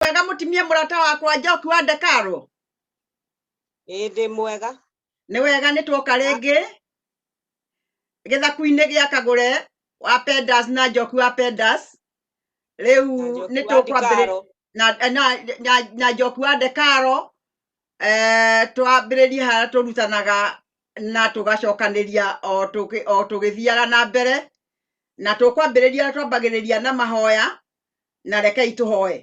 wega mutimie murata wakwa njoki wa ndekaro ĩndĩ mwega nĩ wega nĩ tuoka rĩngĩ gĩthaku-inĩ gĩa kagũre wa pendas na njoku wa pendas rĩu nĩ tũkwambĩrĩria na, na, na, na njoku wa ndekaro eh, twambĩrĩrie harĩa tũrutanaga na tũgacokanĩria o tũgĩ- o tũgĩthiaga na mbere na tũkwambĩrĩria twambagĩrĩria na mahoya na rekei tũhoe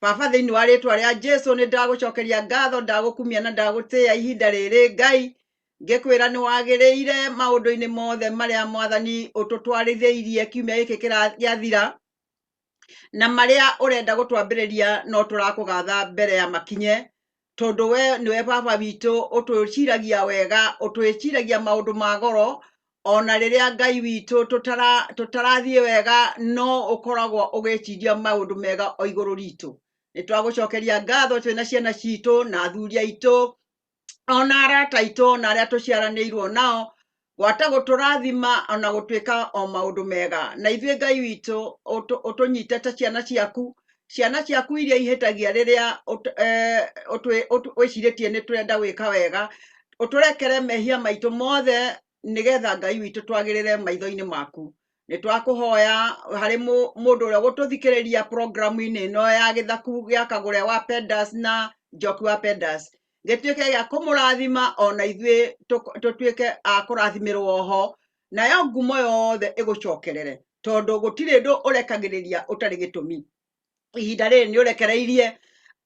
baba thĩinĩ wa rĩtwa rĩa jesu nĩ ndagũcokeria ngatho ndagũkumia na ndagũtĩya ihinda rĩrĩ ngai ngĩkwĩra nĩ wagĩrĩire maũndũ-inĩ mothe marĩa mwathani ũtũtwarithĩirie kiumia gĩkĩ kĩra- gĩathira na marĩa ũrenda gũtwambĩrĩria no tũrakũgatha mbere ya makinye tondũ we nĩwe baba witũ ũtwĩciragia wega ũtwĩciragia maũndũ ma goro ona rĩrĩa ngai witũ tũtara- tũtarathiĩ wega no ũkoragwo ũgĩciria maũndũ mega o igũrũ ritũ nĩ twagũcokeria ngatho twĩna ciana citũ na athuri aitũ ona arata aitũ na arĩa tũciaranĩirwo nao gwata gũtũrathima ona gũtuĩka o maũndũ mega na ithuĩ ngai witũ ũtũ- ũtũnyite ta ciana ciaku ciana ciaku iria ihĩtagia rĩrĩa ũt- eh, ũtwĩ- ũtũ- wĩcirĩtie nĩ tũrenda gwĩka wega ũtũrekere mehia maitũ mothe nĩgetha ngai witũ twagĩrĩre maitho-inĩ maku nĩ twakũhoya harĩ mũ- mũndũ ũrĩa gũtũthikĩrĩria programu-inĩ ĩno ya gĩthaku gĩa kagũre wa pendas na njoki wa pendas gĩtuĩke gĩa kũmũrathima ona ithuĩ tũk- tũtuĩke a kũrathimirwo oho nayo ngumo yothe ĩgũcokerere tondũ gũtirĩ ndũ ũrekagĩrĩria ũtarĩ gĩtũmi ihinda rĩrĩ nĩ ũrekereirie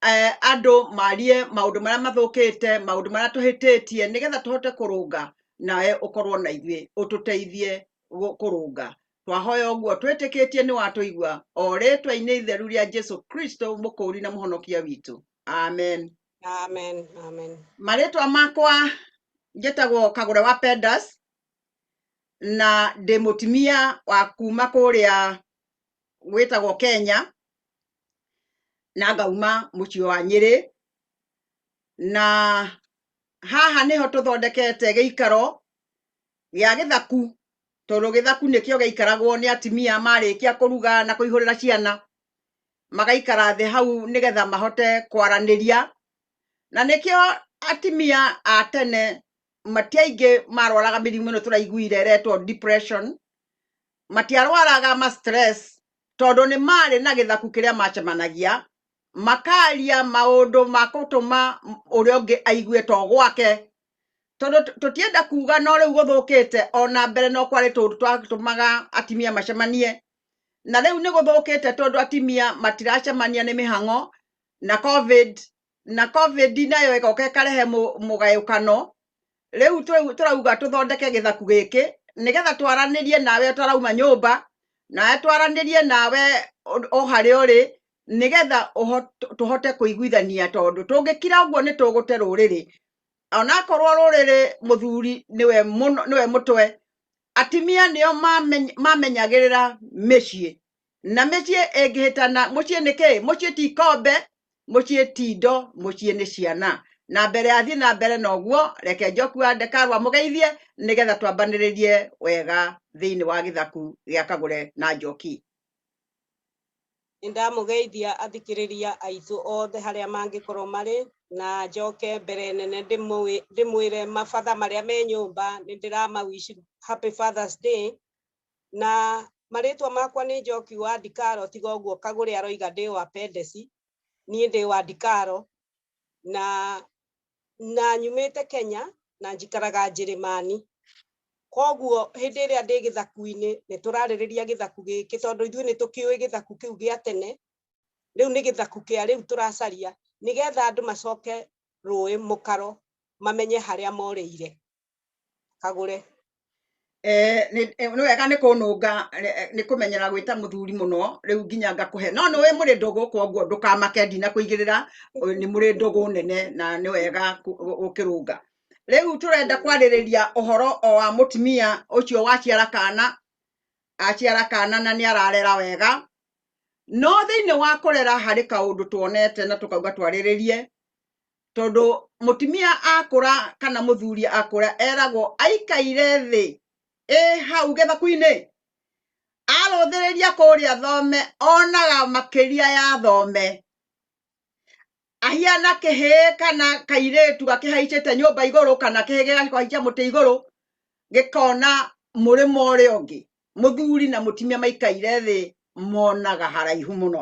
eh, andũ marie maũndũ marĩa mathũkĩte maũndũ marĩa tũhĩtĩtie nĩgetha tũhote kũrũnga nawe ũkorwo na ithuĩ ũtũteithie gũ- kũrũnga twahoya ũguo twĩtĩkĩtie nĩ watũigua o rĩtwa-inĩ itheru rĩa jesu kristo mũkũũri na mũhonokia witũ amen Amen. Amen. marĩtwa makwa njĩtagwo kagũre wa pendas na ndĩ mũtumia wa kuma kũrĩa gwĩtagwo kenya na ngauma mũciĩ wa nyĩrĩ na haha nĩho tũthondekete gĩikaro gĩa gĩthaku tondũ gĩthaku nĩkĩo gĩaikaragwo nĩ atumia marĩkia kũruga na kũihũrĩra ciana magaikara thĩ hau nĩgetha mahote kwaranĩria na nĩkĩo atimia a tene matiaingĩ marwaraga mĩrimũ ĩno tũraiguire ĩretwo depression matiarwaraga ma stress tondũ nĩ marĩ na gĩthaku kĩrĩa macemanagia makaria maũndũ ma gũtũma ũrĩa ũngĩ aigue to gwake tondũ tũtienda kuga no rĩu gũthũkĩte ona mbere no kwarĩ tũndũ twatũmaga atimia macemanie na rĩu nĩ gũthũkĩte tondũ atimia matiracemania nĩ mĩhang'o na covid na covid nayo ĩgoka ĩkarehe mũ- mũgayũkano rĩu tũ- tũrauga tũthondeke gĩthaku gĩkĩ nĩgetha twaranĩrie nawe ũtarauma nyũmba nawe twaranĩrie nawe ũ- o harĩa ũrĩ nĩgetha ũho- tũ- tũhote kũiguithania tondũ tũngĩkira ũguo nĩ tũgũte rũrĩrĩ onakorwo rũrĩrĩ mũthuri nĩwe mũno- nĩwe mũtwe Atumia nĩo mameny- mamenyagĩrĩra mĩciĩ na mĩciĩ ĩngĩhĩtana mũciĩ nĩ kĩĩ mũciĩ ti ikombe mũciĩ ti indo mũciĩ nĩ ciana na mbere athiĩ na mbere na ũguo reke njoku wa ndekarwa mũgeithie nĩgetha twambanĩrĩrie wega thĩinĩ wa gĩthaku gĩa kagũre na njoki Nĩ ndamũgeithia athikĩrĩria aitũ othe harĩa mangĩkorwo marĩ na njoke mbere nene ndĩmũĩ- ndĩmwĩre mabatha marĩa me nyũmba nĩ ndĩramawish happy fathers day na marĩtwa makwa nĩ njoki wa ndikaro tiga ũguo kagũrĩ aroiga ndĩ wa pendeci niĩ ndĩ wa ndikaro na na nyumĩte Kenya na njikaraga Njĩrĩmani. Koguo hĩndĩ ĩrĩa ndĩ gĩthaku-inĩ nĩ tũrarĩrĩria gĩthaku gĩkĩ tondũ ithuĩ nĩ tũkĩũĩ gĩthaku kĩu gĩa tene, rĩu nĩ gĩthaku kĩa rĩu tũracaria nĩgetha andũ macoke rũĩ mũkaro mamenye harĩa morĩire. agũre Eh, nĩ- eh, nĩ wega nĩ kũnũnga eh, nĩ kũmenyera gwĩta mũthuri mũno rĩu nginya ngakũhe no nĩ wĩ mũrĩ ndũgũ koguo ndũkamake ndina kũigĩrĩra ũ- nĩ mũrĩ ndũgũ nene na nĩ wega kũ- gũ- gũkĩrũnga rĩu tũrenda kwarĩrĩria ũhoro o wa mũtumia ũcio waciara kana aciara kana na nĩ ararera wega no thĩinĩ wa kũrera harĩ kaũndũ tuonete na tũkauga twarĩrĩrie tondũ mũtumia akũra kana mũthuri akũra eragwo aikaire thĩ ĩ hau gĩthaku-inĩ arũthĩrĩria kũrĩa thome onaga makĩria ya thome ahiana kĩhĩĩ kana kairĩtu gakĩhaicĩte nyũmba igũrũ kana kĩhĩĩ gĩgakĩhaicia mũtĩ igũrũ gĩkona mũrĩmo ũrĩa ũngĩ mũthuri na mũtumia maikaire thĩ monaga haraihu mũno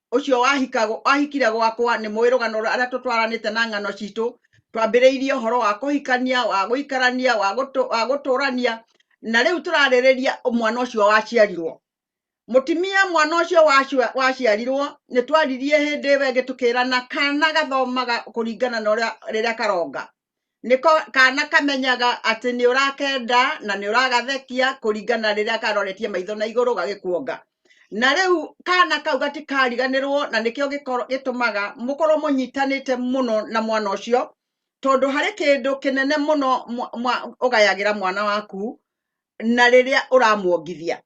ũcio wahikago wahikire gwakwa nĩ mũĩ rũgano rũrĩa tũtwaranĩte na ng'ano citũ twambĩrĩirie ũhoro wa kũhikania wa gũikarania wa gũtũ- wa gũtũrania na rĩu tũrarĩrĩria mwana ũcio waciarirwo mũtimia mwana ũcio wacio- waciarirwo nĩ twaririe hĩndĩ ĩyo ĩngĩ tũkĩrana kana gathomaga kũringana na ũrĩa rĩrĩa karonga nĩko kana kamenyaga atĩ nĩ ũrakenda na nĩ ũragathekia kũringana rĩrĩa karoretie maitho na igũrũ gagĩkuonga na rĩu kana kau gatikariganĩrwo na nĩkĩo gĩkoro- gĩtũmaga mũkorwo mũnyitanĩte mũno na mwana ũcio tondũ harĩ kĩndũ kĩnene mũno mwa- mwa- ũgayagĩra mwana waku na rĩrĩa ũramuongithia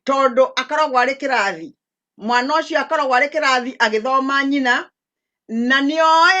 tondũ akoragwo arĩ kĩrathi mwana ũcio akoragwo arĩ kĩrathi agĩthoma nyina na nĩoĩ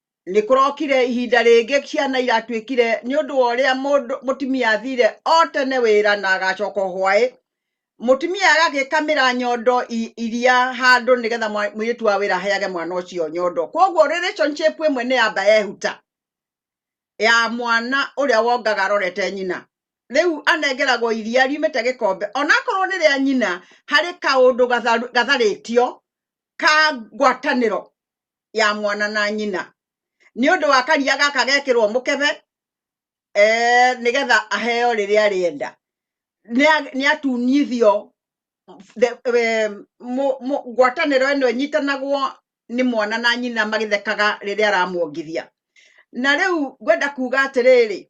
nĩ kũrokire ihinda rĩngĩ ciana iratuĩkire nĩ ũndũ wa ũrĩa mũndũ mũtumia athire o tene wĩra na agacoka hwaĩ mũtumia agagĩkamĩra nyondo i- iria handũ nĩgetha mwa- mũirĩtu wa wĩra aheage mwana ũcio nyondo koguo relationship ĩmwe nĩ yamba yehuta ya mwana ũrĩa wongaga arorete nyina rĩu anengeragwo iria riumĩte gĩkombe onakorwo nĩ rĩa nyina harĩ kaũndũ gatharu- gatharĩtio ka ngwatanĩro ya mwana na nyina nĩ ũndũ wa karia gaka gekĩrwo mũkebe eh, nĩgetha aheo rĩrĩa arĩenda Nĩa- nĩatunyithio the- eh, mũ- mũ- ngwatanĩro ĩno ĩnyitanagwo nĩ mwana na nyina magĩthekaga rĩrĩa aramuongithia na rĩu ngwenda kuga atĩrĩrĩ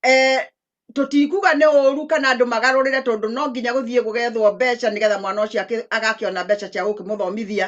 eh, tũtikuga nĩ ũru kana andũ magarũrĩre tondũ no nginya gũthiĩ gũgethwo mbeca nĩgetha mwana ũcio akĩ- agakĩona mbeca cia gũkĩmũthomithia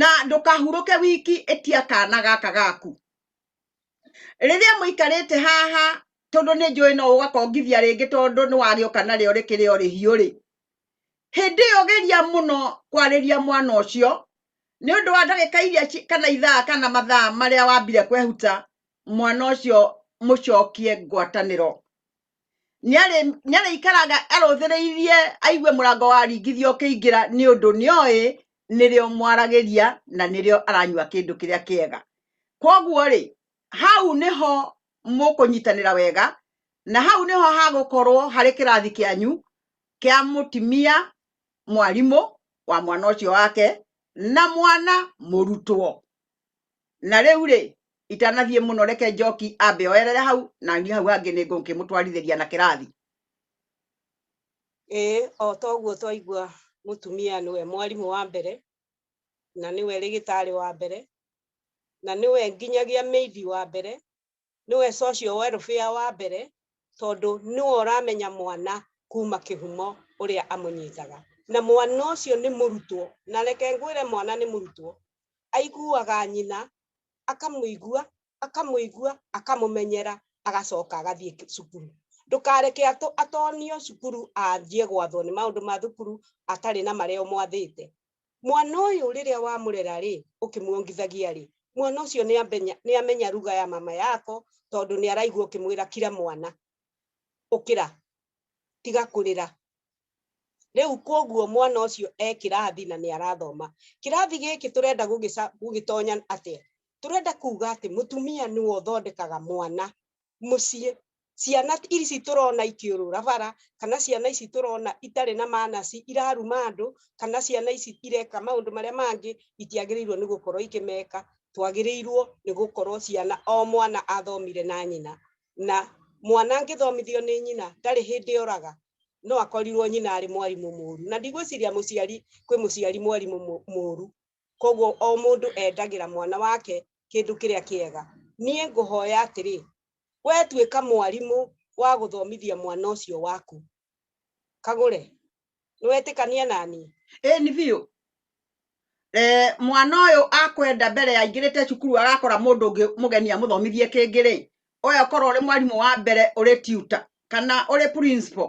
na ndũkahurũke wiki ĩtia kana gaka gaku rĩrĩa mũikarĩte haha tondũ nĩ njũĩ no ũgakongithia rĩngĩ tondũ nĩ wagĩoka narĩo rĩkĩrĩ o rĩhiũ rĩ hĩndĩ ĩyo geria mũno kwarĩria mwana ũcio nĩ ũndũ wa ndagĩka iria kana ithaa kana mathaa marĩa wambire kwehuta mwana ũcio mũcokie ngwatanĩro nĩ arĩikaraga arũthĩrĩirie aigue mũrango waringithio ũkĩingĩra nĩ ũndũ nĩoĩ nĩrĩo mwaragĩria na nĩrĩo aranyua kĩndũ kĩrĩa kĩega kwoguo rĩ hau nĩho mũkũnyitanĩra wega na hau nĩho hagũkorwo harĩ kĩrathi kĩanyu kĩa mũtimia mwarimũ wa mwana ũcio wake na mwana mũrutwo na rä u rä itanathiä må no reke njoki ambe oerere hau na niä hau hangä nä ngå kä må twarithä ria na kä rathi ĩĩ o ta ũguo twaigua mũtumia nĩwe mwarimũ wa mbere na nĩwe rĩgĩtarĩ wa mbere na nĩwe nginyagia mĩithi wa mbere Nĩwe Socio Welfare wa mbere tondũ nĩwe ũramenya mwana kuma kĩhumo ũrĩa amũnyitaga. Na mwana ũcio nĩ mũrutwo, na reke ngwĩre mwana nĩ mũrutwo, aiguaga nyina, akamũigua, akamũigua, akamũmenyera, agacoka agathiĩ cukuru. Ndũkareke atonio cukuru anjie gwathwo nĩ maũndũ ma thukuru atarĩ na marĩa ũmwathĩte. Mwana ũyũ rĩrĩa wamũrera-rĩ, ũkĩmuongithagia-rĩ, mwana ũcio nĩamenya nĩamenya ruga ya mama yako, tondũ nĩaraigua ũkĩmwĩra kira mwana, ũkĩra, tiga kũrĩra. Rĩu kuoguo mwana ũcio e kĩrathi na nĩarathoma. Kĩrathi gĩkĩ tũrenda gũgĩca gũgĩtonya atĩa? Tũrenda kuga atĩ mũtumia nĩwe ũthondekaga mwana mũciĩ ciana ici tũrona ikĩũrũra bara kana ciana ici tũrona itarĩ na manaci iraruma andũ kana ciana ici ireka maũndũ marĩa mangĩ itiagĩrĩirwo nĩ gũkorwo ikĩmeka twagĩrĩirwo nĩ gũkorwo ciana o mwana athomire na nyina na mwana angĩthomithio nĩ nyina ndarĩ hĩndĩ oraga no akorirwo nyina arĩ mwarimũ mũru na ndigwĩciria mũciari kwĩ mũciari mwarimũ mũru koguo o mũndũ endagĩra mwana wake kĩndũ kĩrĩa kĩega niĩ ngũhoya atĩrĩ we tuĩka mwarimũ wa gũthomithia mwana ũcio waku kagũre nĩwetĩkania naniĩ ĩĩ nĩ biũ eh, mwana ũyũ akwenda mbere ya aingĩrĩte cukuru agakora mũndũ ũngĩ mũgeni amũthomithie kĩngĩ rĩ oya korwo ũrĩ mwarimũ wa mbere ũrĩ tutor kana ũrĩ principal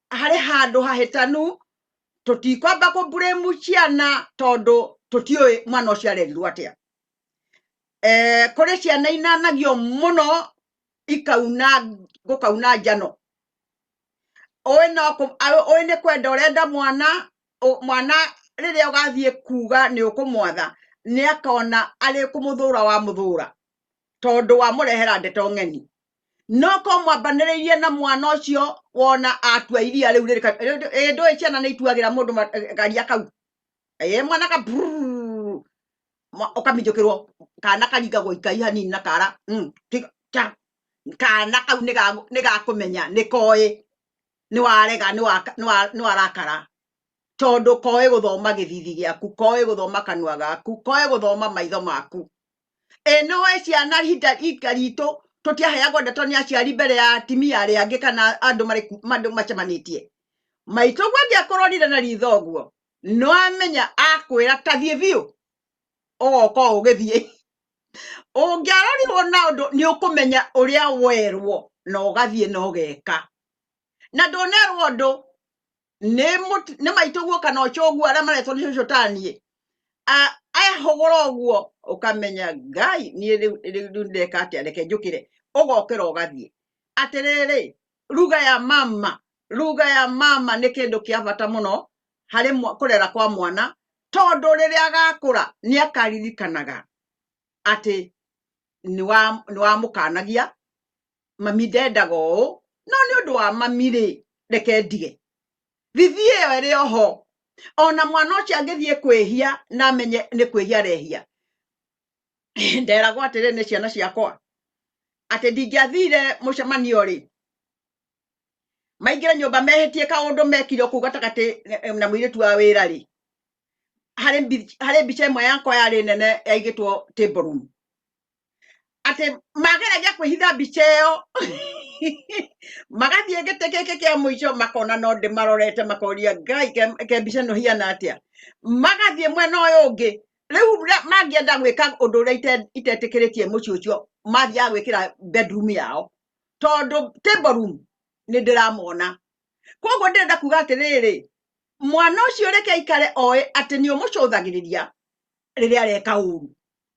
harĩ handũ hahĩtanu tũtikwamba kũmburĩmu ciana tondũ tũtiũĩ mwana ũcio arerirwo atĩa eh, kũrĩ ciana inanagio mũno ikauna gũkauna njano ũĩ no kũ- a- ũĩ nĩ kwenda ũrenda mwana ũ- mwana rĩrĩa ũgathiĩ kuga nĩ ũkũmwatha nĩ akona arĩ kũmũthũra wa mũthũra tondũ wamũrehera ndeto ng'eni no ko mwambanĩrĩirie na mwana ũcio wona atua iria rĩu rĩrĩ ka- rĩu- ĩ, ndũĩ ciana nĩ ituagĩra mũndũ ma- eh, garia kau ĩ mwana ka brrrr, mwa- ũkaminjũkĩrwo kana karingagwo ikai hanini na kara mm, tiga- ta- kana kau nĩ ga- nĩ gakũmenya nĩ koĩ nĩ warega nĩ waka- nĩ wa- nĩ warakara tondũ koĩ gũthoma gĩthithi gĩaku koĩ gũthoma kanua gaku koĩ gũthoma maitho maku ĩno ĩ ciana ihinda ihinda ritũ tũtiaheagwo ndeto nĩ aciari mbere ya atimia arĩa angĩ kana andũ marĩ ku- andũ macemanĩtie maitũ guo angĩakũrorire na ritho ũguo no amenya akwĩra tathiĩ biũ ũgoka ũgĩthiĩ ũngĩarorirwo na ũndũ nĩ ũkũmenya ũrĩa werwo na ũgathiĩ na ũgeka na ndũnerwo ũndũ nĩ mũt- nĩ maitũguo kana ũcoguo arĩa maretwo nĩ cũcũtaniĩ A- ahũgũra ũguo ũkamenya ngai niĩ rĩu rĩu- rĩu ndeka atĩa reke njũkĩre ũgokĩra ũgathiĩ atĩrĩrĩ ruga ya mama ruga ya mama nĩ kĩndũ kĩa bata mũno harĩ mwa- kũrera kwa mwana tondũ rĩrĩa agakũra nĩ akaririkanaga atĩ nĩwa- nĩwamũkanagia mami ndendaga ũũ no nĩ ũndũ wa mami rĩ reke ndige thithi ĩyo ĩrĩ oho ona mwana ũcio angĩthiĩ kwĩhia na amenye nĩ kwĩhia arehia nderagwo atĩrĩ nĩ ciana ciakwa atĩ ndingĩathire mũcemanio rĩ maingĩre nyũmba mehĩtie kaũndũ mekire kũu gatagatĩ eh, na mũirĩtu wa wĩra rĩ harĩ mbi- harĩ mbica ĩmwe yakwa yarĩ nene yaigĩtwo table room atĩ mageragia kwĩhitha mbica ĩyo magathiĩ gĩtĩ gĩkĩ kĩa mũico makona no ndĩmarorete makoria ngai ke- ke mbica ĩno hiana atĩa magathiĩ mwena ũyũ ũngĩ rĩu rĩa- mangĩenda gwĩka ũndũ ũrĩa ite- itetĩkĩrĩtie mũciĩ ũcio mathiaga gwĩkĩra bedroom yao tondũ table room nĩ ndĩramona koguo ndĩrenda kuga atĩrĩrĩ mwana ũcio reke aikare oĩ atĩ nĩ ũmũcũthagĩrĩria rĩrĩa areka ũru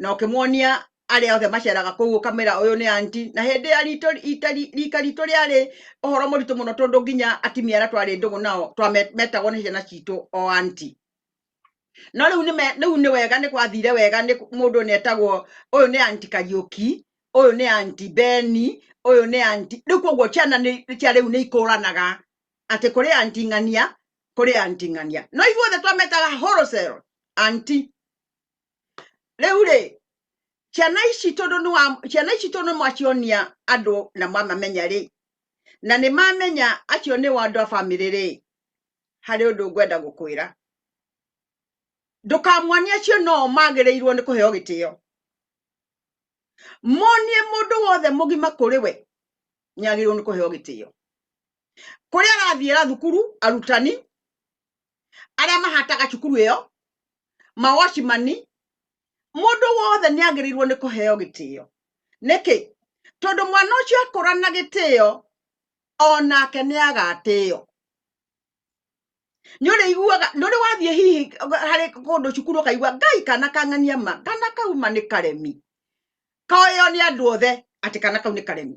na ũkĩmuonia arĩa othe maceraga kũu ũkamera ũyũ nĩ anti na hĩndĩ ya ritũ ita ri- rika ritũ rĩarĩ ũhoro mũritũ mũno tondũ nginya atimia arĩa twarĩ ndũgũ nao twame- metagwo nĩ ciana citũ o anti no rĩu nĩ me- rĩu nĩ wega nĩ gwathire wega nĩ mũndũ nĩ etagwo ũyũ nĩ anti kariũki ũyũ nĩ anti beni ũyũ nĩ anti rĩu koguo ciana nĩ- cia rĩu nĩ ikũranaga atĩ kũrĩ anti ng'ania kũrĩ anti ng'ania no ithuothe twametaga wholesale anti rĩu rĩ ciana ici tondũ nĩ wa ciana ici tondũ nĩ mwacionia andũ na mwamamenya rĩ na nĩ mamenya acio nĩ wa andũ a bamĩrĩ rĩ harĩ ũndũ ngwenda gũkwĩra ndũkamuonie acio noo magĩrĩirwo nĩ kũheo gĩtĩo monie mũndũ wothe mũgima kũrĩ we nĩ agĩrĩirwo nĩ kũheo gĩtĩo kũrĩa arathiĩra thukuru arutani arĩa mahataga cukuru ĩyo mawacimani mũndũ wothe nĩ agĩrĩirwo nĩ kũheo gĩtĩo nĩkĩ tondũ mwana ũcio akũra na gĩtĩo onake nĩ agatĩo nĩ ũrĩ iguaga nĩ ũrĩ wathiĩ hihi harĩ kũndũ cukuru ũkaigua ngai kana kang'ania ma kana kauma nĩ karemi koyo nĩ andũ othe atĩ kana kau nĩ karemi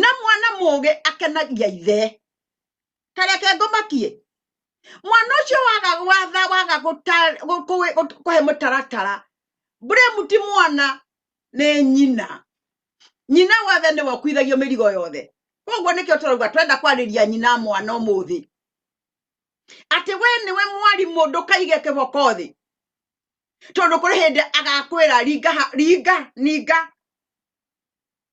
na mwana mũgĩ akenagia ithe kareke ngomakie mwana ũcio waga watha waga gũta- gũ- kũwĩ- gũ- kũhe mũtaratara blame ti mwana nĩ nyina nyina wothe nĩwe ũkuithagio mĩrigo yothe koguo nĩkĩo tũrauga twenda kwarĩria nyina mwana ũmũthĩ atĩ we nĩwe mwarimũ ndũkaige kĩboko thĩ tondũ kũrĩ hĩndĩ agakwĩra ringa ha- ringa ninga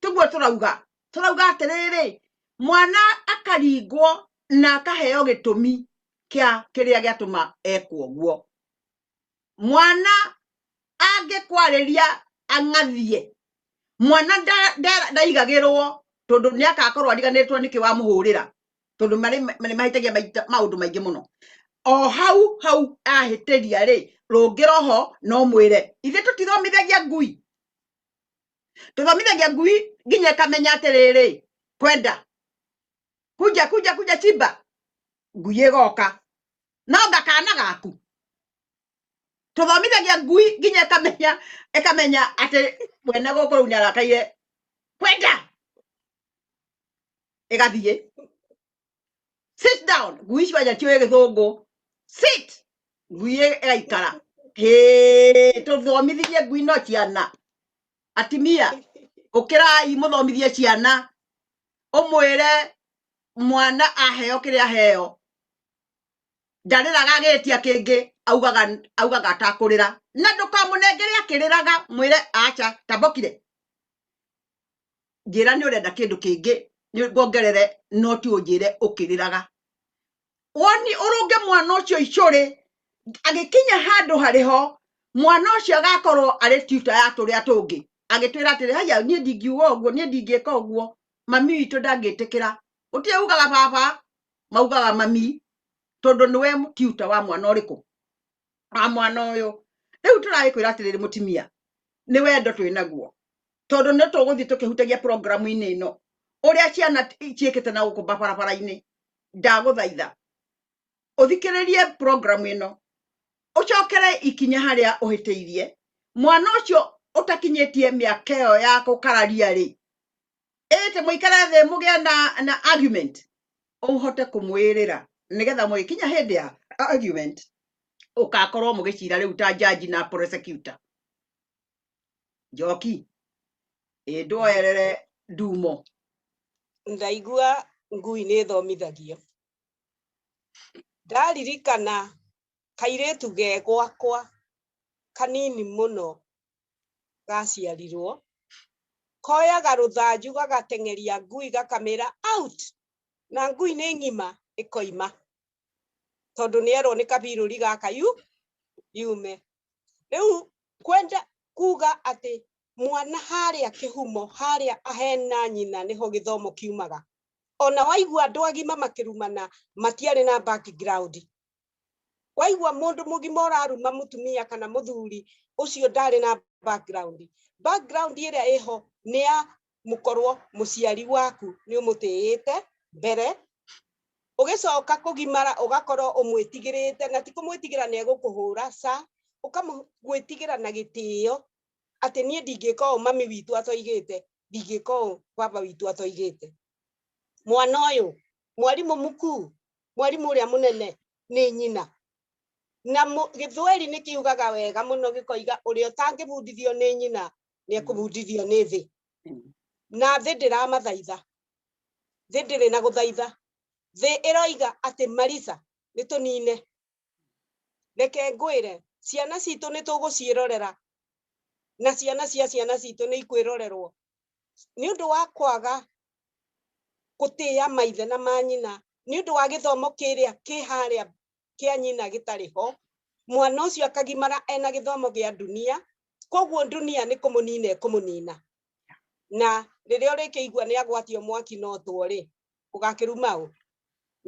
tiguo tũrauga tũrauga atĩrĩrĩ mwana akaringwo na akaheo gĩtũmi kĩa kĩrĩa gĩatũma ekwo guo mwana angĩkwarĩria ang'athie mwana nda- nda- ndaigagĩrwo tondũ nĩ akakorwo ariganĩtwo nĩkĩ wamũhũrĩra tondũ marĩ nĩ mahĩtagia maita- maũndũ maingĩ mũno o hau hau ahĩtĩria rĩ rũngĩra oho no mwĩre ithe tũtithomithagia ngui tũthomithagia ngui nginya ĩkamenya atĩrĩrĩ kwenda kunja kunja kunja chimba ngui ĩgoka no ngakana gaku tũthomithagia ngui nginya ĩkamenya ĩkamenya atĩ mwene gũkũ rĩu nĩarakaire kwenda ĩgathiĩ sit down ngui icio anja tiũĩ gĩthũngũ sit ngui ĩgaikara hĩ tũthomithithie ngui no ciana atimia ũkĩrai mũthomithie ciana ũmwĩre mwana aheo kĩrĩa aheo ndarĩraga agĩtia kĩngĩ augaga augaga atakũrĩra na ndũkamũnengere akĩrĩraga mwĩre acha tambokire njĩra nĩ ũrenda kĩndũ kĩngĩ nĩ ngongerere no ti ũnjĩre ũkĩrĩraga woni ũrũnge mwana ũcio icũrĩ agĩkinya handũ harĩ ho mwana ũcio agakorwo arĩ tuta ya tũrĩa tũngĩ agĩtwĩra atĩrĩ haya niĩ ndingiuga ũguo niĩ ndingĩka ũguo mami witũ ndangĩtĩkĩra gũtirĩ ugaga baba maugaga mami tondũ nĩwe tuta wa mwana ũrĩkũ wa mwana ũyũ rĩu tũragĩkwĩra atĩrĩrĩ mũtimia nĩ wendo twĩ naguo tondũ nĩ tũgũthiĩ tũkĩhutagia programu-inĩ ĩno ũrĩa ciana ciĩkĩte na gũkũ barabara-inĩ ndagũthaitha ũthikĩrĩrie programu ĩno ũcokere ikinya harĩa ũhĩtĩirie mwana ũcio ũtakinyĩtie mĩaka ĩyo ya gũkararia rĩ ĩte mũikare thĩ mũgĩa na, na argument ũhote kũmwĩrĩra nĩgetha mũgĩkinya hĩndĩ ya argument ũkakorwo mũgĩcira rĩu ta jaji na prosecutor njoki ĩndwoerere ndumo ndaigua ngui nĩ thomithagio ndaririkana kairĩtu ge gwakwa kanini mũno gaciarirwo koyaga rũthanju gagateng'eria ngui gakamĩra out na ngui nĩ ng'ima ĩkoima tondũ nĩ erwo nĩ kabirũri gaka yu yume rĩu kwenda kuga atĩ mwana harĩa kĩhumo harĩa ahena nyina nĩho gĩthomo kiumaga ona waigua andũ agima makĩrumana matiarĩ na background waigua mũndũ mũgima ũraruma mũtumia kana mũthuri ũcio ndarĩ na background background ĩrĩa ĩho nĩ ya mũkorwo mũciari waku nĩ ũmũtĩĩte mbere ũgĩcoka kũgimara ũgakorwo ũmwĩtigĩrĩte na ti kũmwĩtigĩra nĩ egũkũhũra sa ũkamwĩtigĩra na gĩtĩo atĩ niĩ ndingĩka ũũ mami witũ atoigĩte ndingĩka ũũ baba witũ atoigĩte mwana ũyũ mwarimũ mkuu mwarimũ ũrĩa mũnene nĩ nyina na gĩthweri nĩ kiugaga wega mũno gĩkoiga ũrĩa ũtangĩbundithio nĩ nyina nĩ ekũbundithio nĩ thĩ na thĩ ndĩramathaitha thĩ ndĩrĩ na gũthaitha thĩ ĩroiga atĩ marisa nĩ tũnine reke ngwĩre ciana citũ nĩ tũgũciĩrorera na ciana cia ciana citũ nĩ ikwĩrorerwo nĩ ũndũ wa kwaga gũtĩa maithe na manyina nĩ ũndũ wa gĩthomo kĩrĩa kĩ harĩa kĩa nyina gĩtarĩ ho mwana ũcio akagimara ena gĩthomo gĩa dunia koguo dunia nĩ kũmũnina ĩkũmũnina na rĩrĩa ũrĩkĩigua nĩ agwatio mwaki no tũrĩ ũgakĩruma ũ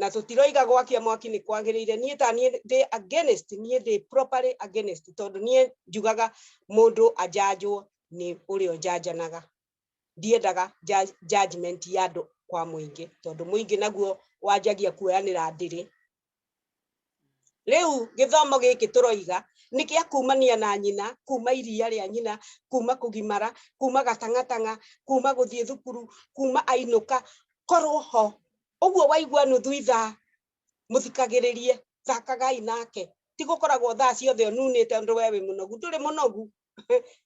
na tũtiroiga gwakia mwaki nĩ kwagĩrĩire niĩ ta niĩ ndĩ against niĩ ndĩ properly against tondũ niĩ njugaga mũndũ anjanjwo nĩ ũrĩa ũnjanjanaga ndiendaga judgment ya andũ kwa mũingĩ tondũ mũingĩ naguo wanjagia kuoyanĩra ndĩrĩ riu githomo giki turoiga ni kia kumania na nyina kuma iria ria nyina kuma kugimara kuma gatangatanga kuma guthie thukuru kuma ainuka korwo ho uguo waigua nuthu ithaa muthikagiririe thakagai nake tigukoragwo thaa ciothe ununite ndu we wi munogu nduri munogu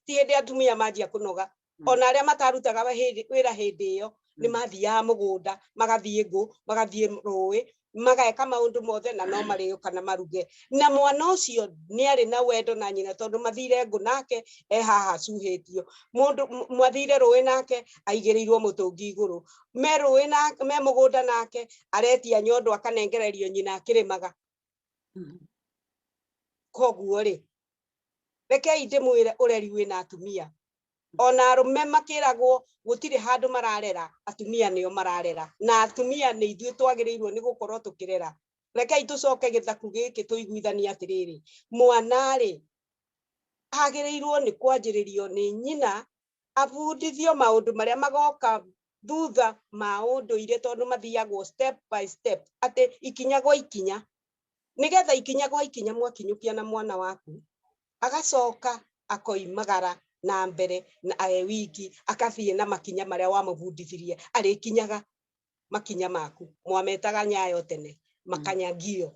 ti hindi atumia manjia kunoga Mm. ona arĩa matarutaga wa- hĩndĩ- wĩra hĩndĩ ĩyo nĩ Mm. mathiaga mũgũnda magathiĩ ngũ magathiĩ rũĩ mageka maũndũ mothe na no marĩũka na maruge na mwana ũcio nĩ arĩ na wendo na nyina tondũ mathire ngũ nake e haha acuhĩtio mũndũ m- mathire rũĩ nake aigĩrĩirwo mũtũngi igũrũ me rũĩ na me mũgũnda nake aretia nyondo akanengererio nyina akĩrĩmaga mm-hmm. koguo rĩ rekei ndĩmwĩre ũreri wĩna atumia mm-hmm. ona arũme makĩragwo gũtirĩ handũ mararera atumia nĩo mararera na atumia nĩ ithuĩ twagĩrĩirwo nĩ gũkorwo tũkĩrera rekei tũcoke gĩthaku gĩkĩ tũiguithanie atĩrĩrĩ mwana rĩ agĩrĩirwo nĩ kwanjĩrĩrio nĩ nyina abundithio maundu maria magoka thutha ma unduire tondu mathiyagwo step by step ati ikinya gwa ikinya nigetha ikinya gwa ikinya mwakinyukia na mwana waku agacoka akoimagara na mbere na e wiki akathie na makinya maria wamubundithirie arikinyaga makinya maku mwametaga nyayo tene makanyagio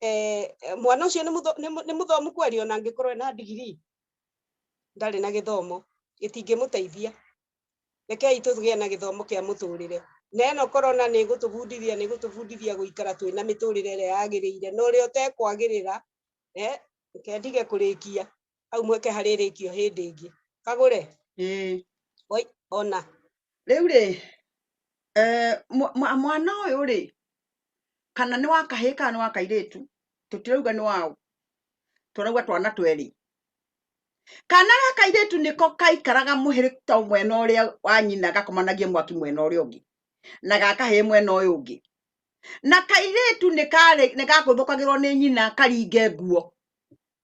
eh, eh, mwana ũcio nĩ mũtho- nĩ mũ- nĩ mũthomu kweri ona angĩkorwo ena ndigiri ndarĩ na gĩthomo gĩtingĩmũteithia rekei tũgĩe na gĩthomo kĩa mũtũrĩre na ĩno korona nĩ ĩgũtũbundithia nĩ ĩgũtũbundithia gũikara twĩ na mĩtũrĩre ĩrĩa yagĩrĩire na ũrĩa ũtekwagĩrĩra eh, reke ndige kũrĩkia hau mweke harĩrĩkio hĩndĩ ĩngĩ kagũre ĩĩ Oi, ona rĩu rĩ eh, mwa- mwa- mwana ũyũ rĩ kana nĩ wa kahĩĩ kana nĩ wa kairĩtu tũtirauga nĩ waũ tũrauga twana twerĩ kana ga kairĩtu nĩko kaikaraga mũhĩrĩ to mwena ũrĩa wa nyina gakomanagie mwaki mwena ũrĩa ũngĩ na ga kahĩĩ mwena ũyũ ũngĩ na kairĩtu nĩ karĩ- nĩ gakũthũkagĩrwo nĩ nyina karinge nguo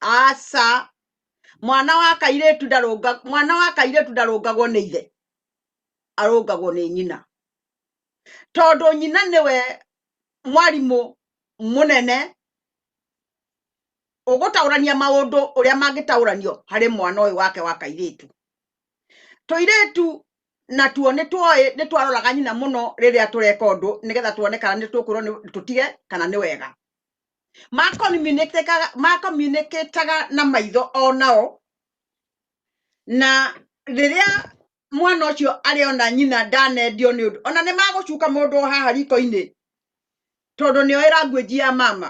aca mwana wa kairĩtu ndarũnga mwana wa kairĩtu ndarũngagwo nĩ ithe arũngagwo nĩ nyina tondũ nyina nĩwe mwarimũ mũnene ũgũtaũrania maũndũ ũrĩa mangĩtaũranio harĩ mwana ũyũ wake wa kairĩtu tũirĩtu natuo nĩ tuoĩ nĩ twaroraga nyina mũno rĩrĩa tũreka ũndũ nĩgetha tuone kana nĩ tũkwĩrwo nĩ- tũtige kana nĩ wega makomunikĩtaga makomunikĩtaga na maitho o nao na rĩrĩa mwana ũcio arĩ ona nyina ndanendio nĩ ũndũ ona nĩ magũcuka mũndũ o haha riko-inĩ tondũ nĩo ĩranguĩnji ya mama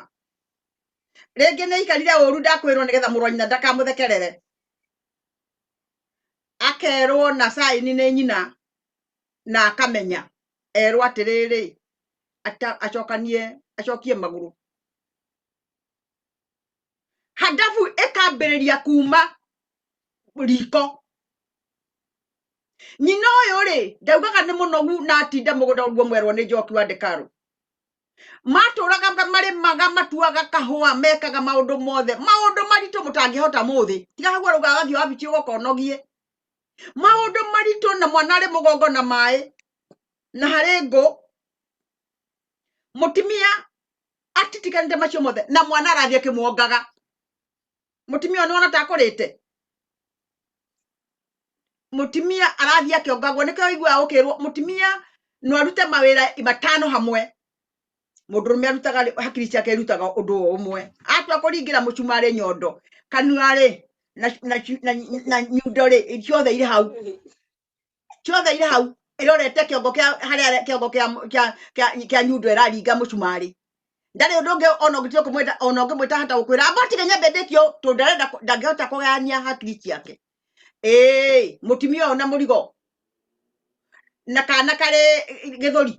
rĩngĩ nĩ aikarire ũru ndakwĩrwo nĩgetha mũrũ wa nyina ndakamũthekerere akerwo na saini nĩ nyina na akamenya erwo atĩrĩrĩ ata- acokanie acokie magũrũ hadabu ĩkambĩrĩria kuma riko nyina ũyũ rĩ ndaugaga nĩ mũnogu na atinda mũgũnda ũguo mwerwo nĩ njoki wa ndekaru matũraga ma- marĩmaga matuaga kahũa mekaga maũndũ mothe maũndũ maritũ mũtangĩhota mũthĩ tiga hau arauga wathiĩ wabici ũgokonogie maũndũ maritũ na mwana arĩ mũgongo na maĩ na harĩ ngũ mũtumia atitiganĩte macio mothe na mwana arathiĩ akĩmwongaga mũtumia ũyũ nĩwona ta akũrĩte mũtumia arathiĩ akĩongagwo nĩkĩo ũiguaga ũkĩrwo mũtumia no arute mawĩra matano hamwe mundu rume arutaga ri- hakiri ciake irutaga undu o umwe atua kuringira mucumari nyondo kanua ri na na na, na nyundo ri ciothe iri hau ciothe iri hau irorete kiongo kia haria kiongo kia kia kia, kia nyundo iraringa mucumari ndari undu ungi ona ngitio kumwita ona ngimwita hata gukwira ambotige nyambe ndikio tu ndarenda kũ- ndangihota kugayania hakiri ciake ĩĩ mũtumia ũyũ na mũrigo na kana karĩ gĩthũri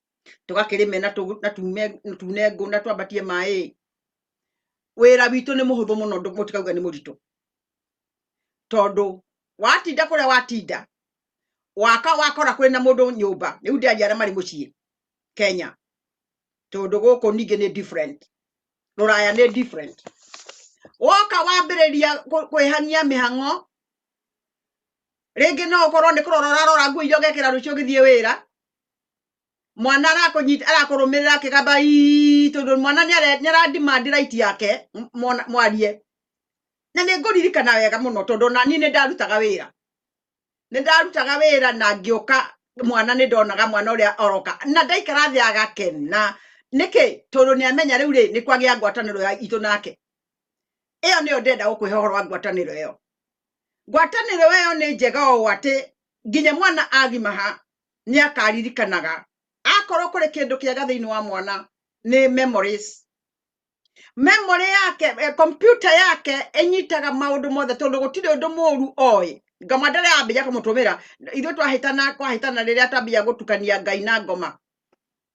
tũgakĩrĩme na tũ- na tume- na tune ngũ na twambatie maĩ wĩra witũ nĩ mũhũthũ mũno ndũ- mũtikauga nĩ mũritũ tondũ watinda kũrĩa watinda waka wakora kwĩ na mũndũ nyũmba rĩu ndĩaria arĩa marĩ mũciĩ kenya tondũ gũkũ ningĩ nĩ different rũraya nĩ different woka wambĩrĩria kũ- kwĩhang'ia mĩhang'o rĩngĩ no ũkorwo nĩ kũrora ũrarora nguo iria ũgekĩra rũciũ ũgĩthiĩ wĩra mwana arakũnyita arakũrũmĩrĩra akĩgamba ii tondũ mwana nĩ are- nĩ arandimandi raiti yake m- mwana- mwarie na nĩ ngũririkana wega mũno tondũ ona niĩ nĩ ndarutaga wĩra nĩ ndarutaga wĩra na ngĩũka mwana nĩ ndonaga mwana ũrĩa oroka na ndaikara thĩ agakena nĩkĩ tondũ nĩ amenya rĩu rĩ nĩ kwagĩa ngwatanĩro ya itũ nake ĩyo nĩyo ndenda gũkwĩhe ũhoro wa ngwatanĩro ĩyo ngwatanĩro ĩyo nĩ njega ũũ atĩ nginya mwana agimaha nĩ akaririkanaga akorwo kũrĩ kĩndũ kĩega thĩinĩ wa mwana nĩ memories memory yake eh, kompyuta yake ĩnyitaga maũndũ mothe tondũ gũtirĩ ũndũ mũru oĩ ngoma ndere yambĩria kũmũtũmĩra ithuĩ twahĩtana kwahĩtana rĩrĩa twambia gũtukania ngai na ngoma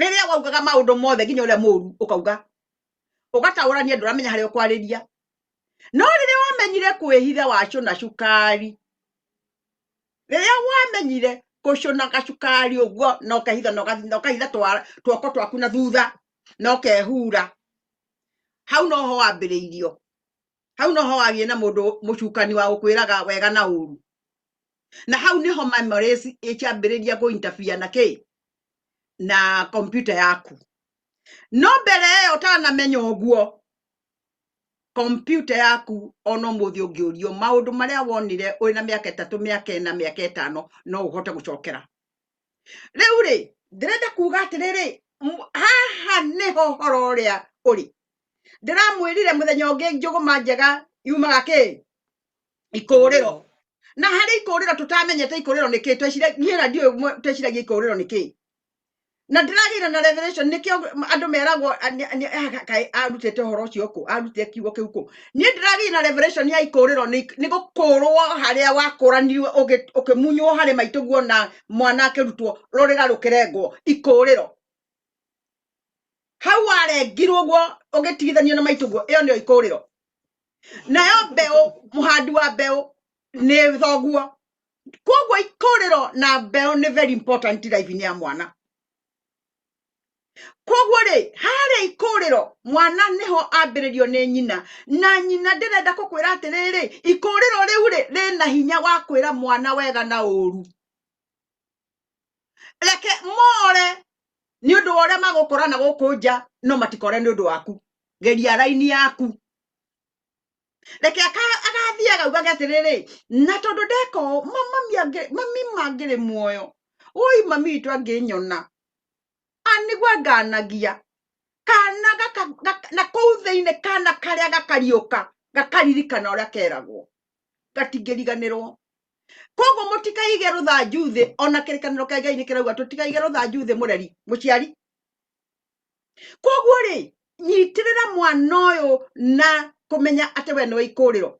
rĩrĩa waugaga maũndũ mothe nginya ũrĩa mũru ũkauga ũgataũrania andũ ũramenya harĩa ũkwarĩria no rĩrĩa wamenyire kwĩhitha wacũna cukari rĩrĩa wamenyire kũcũna gacukari ũguo na ũkehitha na ũgathi- na ũkahitha twa- tuoko twaku na thutha na ũkehura hau noho wambĩrĩirio hau noho wagĩe na mũndũ mũcukani wa gũkwĩraga wega na ũru na hau nĩho memories ĩkĩambĩrĩria kũintabia na kĩ na kompyuta yaku no mbere ĩyo ũtanamenya ũguo kompyuta yaku ona ũmũthĩ ũngĩũrio maũndũ marĩa wonire ũrĩ na mĩaka ĩtatũ mĩaka ĩna mĩaka ĩtano no ũhote gũcokera rĩu rĩ ndĩrenda kuga atĩrĩrĩ m- haha nĩho ũhoro ũrĩa ũrĩ ndĩramwĩrire mũthenya ũngĩ njũgũma njega yumaga kĩ ikũũrĩro na harĩ ikũũrĩro tũtamenyete ikũũrĩro nĩ kĩ twecire niĩ na ndiũĩ mwe- tweciragia ikũũrĩro nĩ kĩ na ndĩragĩire na revelation nĩkĩo andũ meragwo a- nĩ- nĩ- ah, kaĩ arutĩte ũhoro ũcio kũ arutĩte kiugo kĩu kũ niĩ ndĩragĩire na revelation ya ikũũrĩro nĩ nĩ gũkũũrwo harĩa wakũranirwo ũgĩ- ũkĩmunywo harĩ maitũguo na mwana akĩrutwo rũrĩra rũkĩrengwo ikũũrĩro hau warengirwo guo ũgĩtigithanio na maitũ guo ĩyo nĩyo ikũrĩro nayo mbeũ mũhandi wa mbeũ nĩ thoguo koguo ikũrĩro na mbeũ nĩ very important life-inĩ ya mwana koguo rĩ harĩa ikũrĩro mwana nĩho ambĩrĩrio nĩ nyina na nyina ndĩrenda kũkwĩra atĩrĩrĩ ikũrĩro rĩu rĩ rĩna hinya wa kwĩra mwana wega na ũru reke more nĩ ũndũ wa ũrĩa magũkora na gũkũ nja no matikore nĩ ũndũ waku geria raini yaku reke aka- agathiĩ agaugage atĩrĩrĩ na tondũ ndeka ũũ ma- mami angĩ- mami mangĩrĩ muoyo ũi mami witũ angĩnyona anĩgua nganagia kana gaka- gaka- na kũu thĩinĩ kana karĩa gakariũka gakaririkana ũrĩa keragwo gatingĩriganĩrwo koguo mũtikaige rũthanju thĩ ona kĩrĩkanĩro kĩa ngai nĩ kĩrauga tũtikaige rũthanju thĩ mũreri mũciari koguo rĩ nyitĩrĩra mwana ũyũ na kũmenya atĩ we nĩ wa ikũrĩro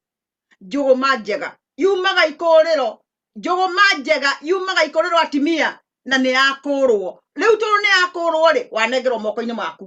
njũgũma njega yumaga ikũrĩro njũgũma njega yumaga ikũrĩro atimia na nĩ yakũrwo rĩu tondũ nĩ yakũrwo rĩ wanengerwo moko-inĩ maku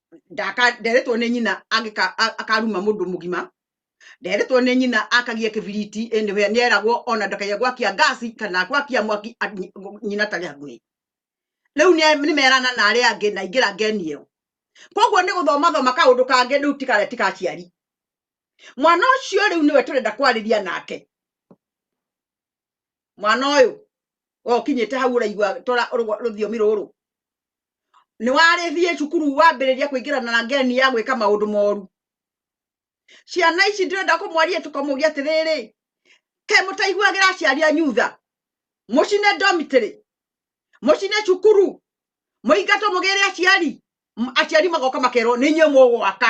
ndaka nderetwo nĩ nyina angĩka a- akaruma mũndũ mũgima nderetwo nĩ nyina akagia kĩbiriti anywhere nĩeragwo ona ndakaige gwakia ngasi kana gwakia mwaki a- nyi- nyina tarĩ hakuhĩ rĩu nĩ- nĩmerana na arĩa angĩ na ingĩra ngeni ĩyo koguo nĩ gũthomathoma kaũndũ kangĩ rĩu tikarĩa tikaciari mwana ũcio rĩu nĩwe tũrenda kwarĩria nake mwana ũyũ we ũkinyĩte hau ũraigua tora rũgwa- rũthiomi rũrũ nĩ warĩthiĩ cukuru wambĩrĩria kũingĩrana na ngeni ya gwĩka maũndũ moru ciana ici ndĩrenda kũmwaria tũkamũgia atĩrĩrĩ ke mũtaiguagĩra aciari a nyutha mũcine ndomitĩrĩ mũcine cukuru mũingatwo mũgĩre aciari M- aciari magoka makerwo nĩ inyuĩ mũgwaka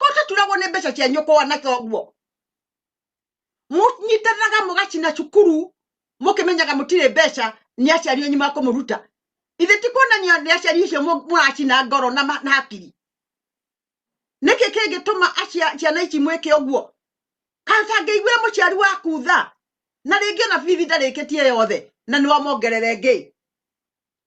ko taturagwo nĩ mbeca cia nyũkwa na toguo mũnyitanaga mũgacina cukuru mũkĩmenyaga mũtirĩ mbeca nĩ aciari anyu makũmũruta ithe ti kuonania nĩ aciari icio mũ- mũracina ngoro na ma- na hakiri nĩkĩ kĩngĩtũma acia- ciana ici mwĩke ũguo atangĩiguire mũciari waku tha na rĩngĩ ona bithi ndarĩkĩtie yothe na nĩwamongerere ngĩ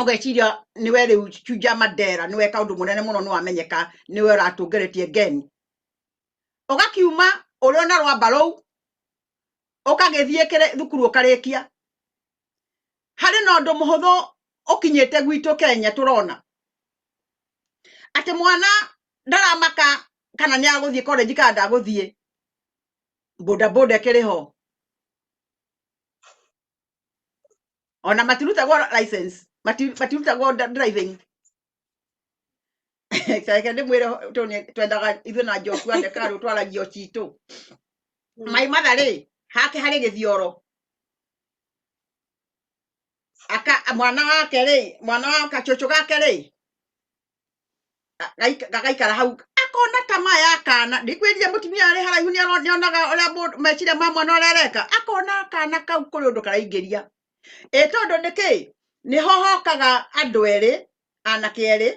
ũgeciria nĩwe rĩu Tuja Mandela nĩwe kaũndũ mũnene mũno nĩwamenyeka nĩwe ũratũngeretie ngeni ũgakiuma ũrĩ ona rwamba rũu ũkagĩthiĩ thukuru ũkarĩkia harĩ na ũndũ mũhũthũ ũkinyĩte gwitũ Kenya tũrona atĩ mwana ndaramaka kana nĩ agũthiĩ college kana ndagũthiĩ bodaboda ĩkĩrĩ ho ona matirutagwo license mati- matirutagwo dri- driving reke ndĩmwĩre tũ nĩ- twendaga ithuĩ na njokua ndekarũ twaragio citũ mai matha rĩ hake harĩ gĩthioro aka mwana wake rĩ mwana wa kachocho gake rĩ Agaika- gagaikara hau akona tamaa ya kana ndikwĩrire mũtumia arĩ haraihu nĩ aro- nĩonaga ũrĩa mũndũ- meciria ma mwana ũrĩa areka akona kana kau kũrĩ ũndũ karaingĩria ĩ tondũ nĩ kĩ nĩho hokaga andũ erĩ anake erĩ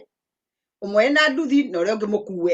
ũmwe ena nduthi na ũrĩa ũngĩ mũkue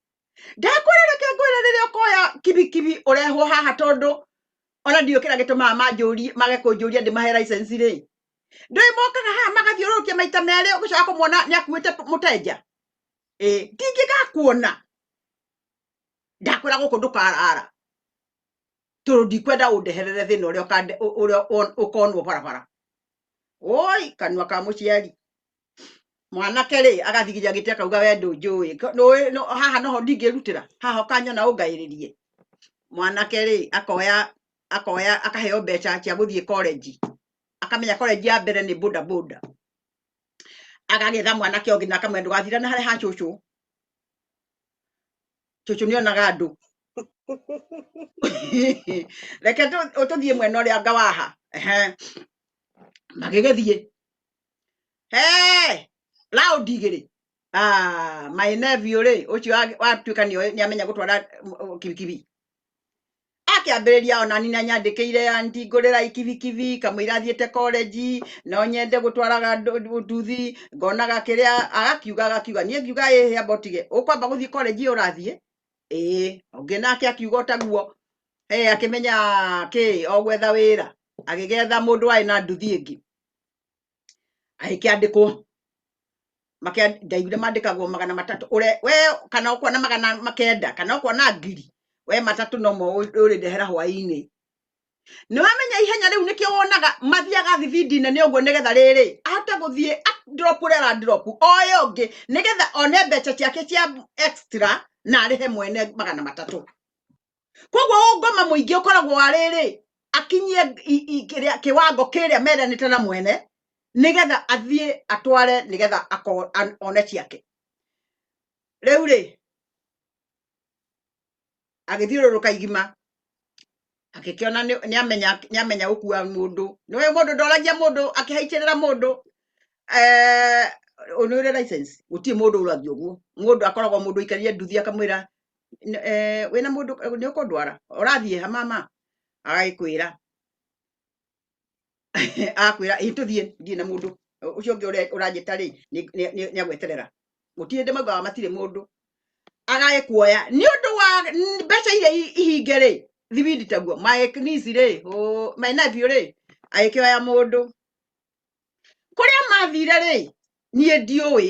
ndakwĩra reke ngwĩre rĩrĩa ũkoya kibikibi ũrehwo haha tondũ ona ndiũ kĩrĩa gĩtũmaga manjũrie mage kũnjũria ndĩmahe license rĩ ndũĩ mokaga haha magathiũrũrũkia maita merĩ ũgĩcoka kũmuona nĩ akuĩte mũtenja ĩ ndingĩgakuona ndakwĩra gũkũ ndũkarara tondũ ndikwenda ũndeherere thĩna ũrĩa ũkande- ũ- ũrĩa won- ũkonwo barabara oi kanua ka mũciari mwanake rĩ agathigiria gĩtĩ akauga we ndũnjũĩ Ko- nũĩ- nũ- haha noho ndingĩrutĩra haha ũkanyona ũngaĩrĩrie mwanake rĩ akoya akoya akaheo mbeca cia gũthiĩ korenji akamenya korenji ya mbere nĩ boda boda agagĩtha mwanake ũngĩ na akamwenda ndũgathira na harĩa ha cũcũ cũcũ nĩ onaga andũ reke tũ- tũthiĩ mwena ũrĩa ngawaha Ehe. magĩgĩthiĩ hey, loud igĩrĩ ah, my nephew rĩ ũcio wa- watuĩka nĩ nĩ amenya gũtwara mm, mm, kibikibi akĩambĩrĩria ona nina nyandĩkĩire anti ngũrĩra ikibikibi kamũira athiĩte korenji no nyende gũtwaraga ndũ- nduthi ngonaga kĩrĩa agakiuga agakiuga niĩ ngiuga ĩhĩ amba ũtige ũkwamba gũthiĩ korenji ĩyo ũrathiĩ ĩĩ ũngĩ nake akiuga ũtaguo ĩ akĩmenya kĩ o gwetha wĩra agĩgetha mũndũ warĩ na nduthi ĩngĩ agĩkĩandĩkwo makĩa- ndaiguire mandĩkagwo magana matatũ ũre we kana ũkona magana makenda kana ũkona ngiri we matatũ nomo ũrĩndehera hwaĩ-inĩ nĩwamenya ihenya rĩu nĩkĩo wonaga mathiaga thibindi nene ũguo nĩgetha rĩrĩ ahote gũthiĩ a- drop ũrĩa ara drop oe ũngĩ nĩgetha one mbeca ciake cia extra na arĩhe mwene magana matatũ koguo ũngoma mũingĩ ũkoragwo arĩrĩ akinyie i- i- kĩrĩa- kĩwango kĩrĩa meranĩte na mwene nĩgetha athiĩ atware nĩgetha ako- an- one ciake rĩu rĩ agĩthiũrũrũka igima agĩkĩona nĩ- nĩamenya nĩamenya gũkua mũndũ nĩwe mũndũ ndoragia mũndũ akĩhaicĩrĩra mũndũ eh, ũyũ nĩ ũrĩ license gũtirĩ mũndũ ũrathi ũguo mũndũ akoragwo mũndũ aikarire nduthi akamwĩra N- eh, wĩna mũndũ nĩ ũkũndwara ũrathiĩ ha mama agagĩkwĩra akwĩra ĩ tũthiĩ ndiĩ na mũndũ Ũ- ũcio ũngĩ ũre- ũranjĩta rĩ nĩ agweterera gũtirĩ ndĩ maugaga matirĩ mũndũ agagĩkuoya nĩ ũndũ wa n- mbeca iria i- ihinge rĩ thibindi taguo maeknisi rĩ ũ- my nephew rĩ agĩkĩoya mũndũ kũrĩa mathire rĩ niĩ ndiũĩ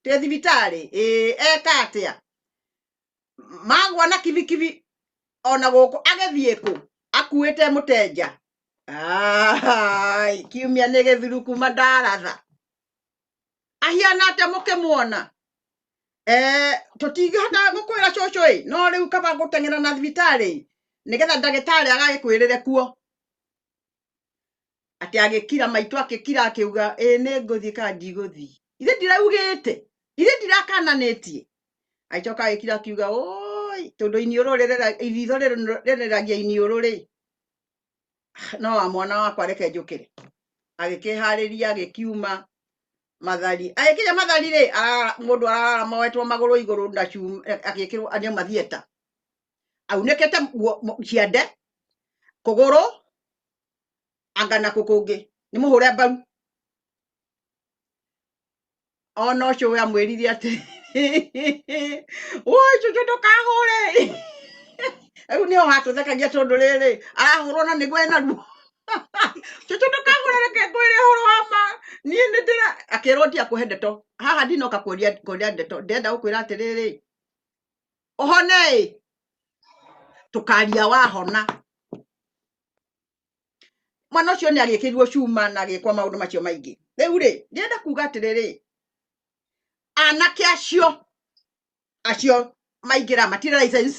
ndĩ thibitarĩ ĩĩ eka atĩa magwa na kibikibi ona gũkũ agĩthiĩ kũ akuĩte mũtenja Ai, kiumia nĩ gĩthuru kuma ndaratha ahiana atĩa mũkĩmuona Eh, tũtingĩhota gũkwĩra cũcũ ĩ no rĩu kaba gũteng'era na thibitarĩ ĩ nĩgetha ndagĩtarĩ agagĩkwĩrĩre kuo atĩ agĩkira maitũ akĩkira akĩuga ĩĩ nĩ ngũthiĩ kana ndigũthiĩ ithe ndiraugĩte ithe ndirakananĩtie agĩcoka agĩkira akiuga oi tondũ iniũrũ rĩrera- iritho rĩrũ- rĩreragia iniũrũ rĩ no wa mwana wakwa reke njũkĩre agĩkĩharĩria agĩkiuma mathari agĩkinya mathari rĩ arara- mũndũ ararara moetwo magũrũ igũrũ na cuma agĩkĩrwo nĩ mathieta aunĩkĩte nguo mũ- ciande kũgũrũ anga na kũkũngĩ nĩ mũhũre mbaru ona ũcio we amwĩrire atĩ woi cucu ndũkahũre rĩu nĩho hatũthekagia tondũ rĩrĩ arahũrwo na nĩguo ena ruo cucu ndũkahũre reke ngwĩre ũhoro wa ma niĩ nĩ ndĩra akĩrwo ndia kũhe ndeto haha ndinoka kũria kũria ndeto ndĩrenda gũkwĩra atĩrĩrĩ ũhone ĩ tũkaria wahona mwana ũcio nĩ agĩkĩrirwo cuma na agĩkwa maũndũ macio maingĩ rĩu rĩ ndĩrenda kuga atĩrĩrĩ anake acio acio maingĩra matirĩ license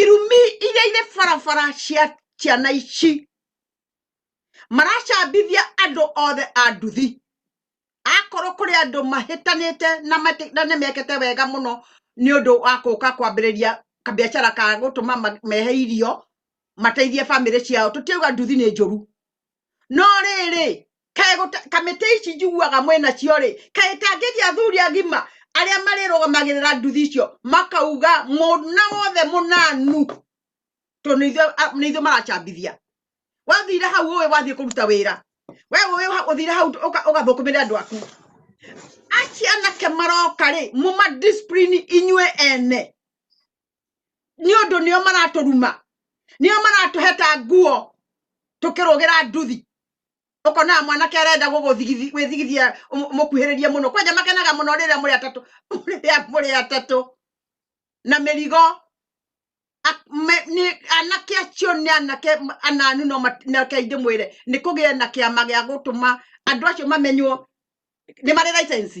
irumi iria irĩ barabara cia ciana ici maracambithia andũ othe a nduthi akorwo kũrĩ andũ mahĩtanĩte na mati- na nĩmekĩte wega mũno nĩ ũndũ wa kũka kwambĩrĩria kabiacara ka gũtũma ma- mehe irio mateithie bamĩrĩ ciao tũtiauga nduthi nĩ njũru no rĩrĩ kaĩ gũta- kamĩtĩ ici njiguaga mwĩna cio rĩ kaĩ kangĩgĩa athuri agima arĩa marĩrũgamagĩrĩra nduthi icio makauga mũna wothe mũnanu tondũ nĩ ithuĩ- a- nĩ ithuĩ maracambithia wathire hau ũĩ wathiĩ kũruta wĩra we ũĩ ha- ũthire hau ũka- ũgathũkũmĩre andũ aku aci anake maroka rĩ mũma discipline inyuĩ ene nĩ ũndũ nĩo maratũruma nĩo maratũheta nguo tũkĩrũgĩra nduthi ũkonaga mwanake arenda gwĩthigithia mũkuhĩrĩrie mũno kwanja makenaga mũno rĩrĩa mũrĩ atatũ rĩrĩa mũrĩ atatũ na mĩrigo anake acio nĩ anake ananu no anake aingĩ mwĩre nĩ kũgĩe na kĩama gĩa gũtũma andũ acio mamenywo nĩ marĩ license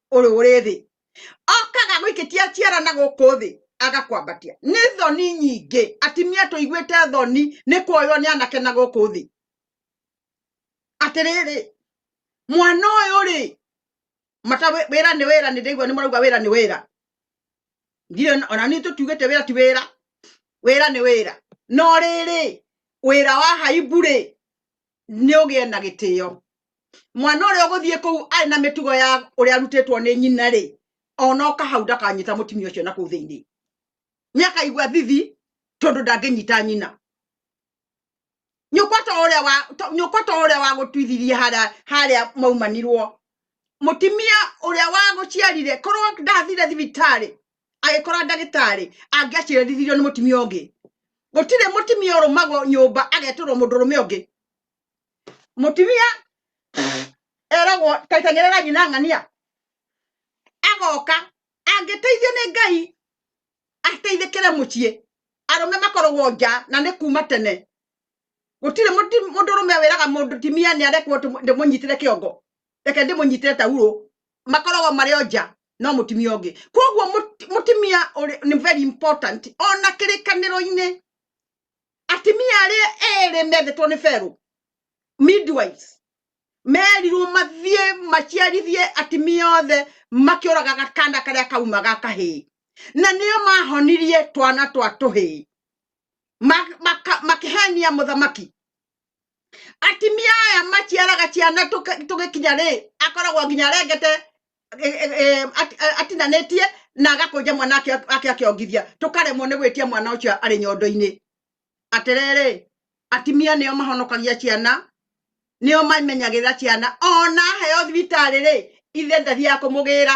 ũrĩ ũrĩ thĩ okaga gwĩkĩtia ciara na gũkũ thĩ agakwambatia nĩ thoni nyingĩ atimia tũiguĩte thoni nĩ kuoywo nĩ anake na gũkũ thĩ atĩrĩrĩ mwana ũyũ rĩ mata wĩ- wĩra nĩ wĩra nĩ ndĩigua nĩ marauga wĩra nĩ wĩra ndirĩ na- ona niĩ tũtiugĩte wĩra ti wĩra wĩra nĩ wĩra no rĩrĩ wĩra wa haibu rĩ nĩ ũgĩe na gĩtĩo mwana ũrĩa ũgũthiĩ kũu arĩ na mĩtugo ya ũrĩa arutĩtwo nĩ nyina rĩ ona oka hau ndakanyita mũtumia ũcio na kũu thĩinĩ nĩ akaigua thithi tondũ ndangĩnyita nyina nyũkwa ta ũrĩa wa to- nyũkwa ta ũrĩa wa gũtuithirie harĩa harĩa maumanirwo mũtumia ũrĩa wa gũciarire korwo ndathire thibitarĩ agĩkora ndagĩtarĩ angĩaciarithirio nĩ mũtumia ũngĩ gũtirĩ mũtumia ũrũmagwo nyũmba agetũrwo mũndũ ũrũme ũngĩ mũtumia eragwo taitang'ĩrĩra nyina ng'ania agoka angĩteithio nĩ ngai ateithĩkĩre mũciĩ arũme makoragwo nja na nĩ kuma tene gũtirĩ mũndũ ũrũme wĩraga mũtumia nĩ arekwo ndĩmũnyitĩre kĩongo reke ndĩmũnyitĩre tauro makoragwo marĩ o nja no mutumia ũngĩ koguo mũti- mũtumia ũrĩ- nĩ very important ona kĩrĩkanĩro-inĩ atumia arĩa erĩ methetwo nĩ ferũ midwives merirwo mathiĩ maciarithie atumia othe makĩũraga gakanda karĩa kauma ga kahĩĩ na nĩo mahonirie twana twa tũhĩĩ Ma- maka- makĩhenia mũthamaki atimia aya maciaraga ciana tũgĩkinya rĩ akoragwo nginya arengete e, e, e, atinanĩtie na agakũnja mwana ake akĩongithia tũkaremwo nĩ gwĩtia mwana ũcio arĩ nyondo-inĩ atĩrĩrĩ atimia nĩo mahonokagia ciana nĩo mamenyagĩrĩra ciana ona aheo thibitarĩ rĩ ithe ndathiaga kũmũgĩra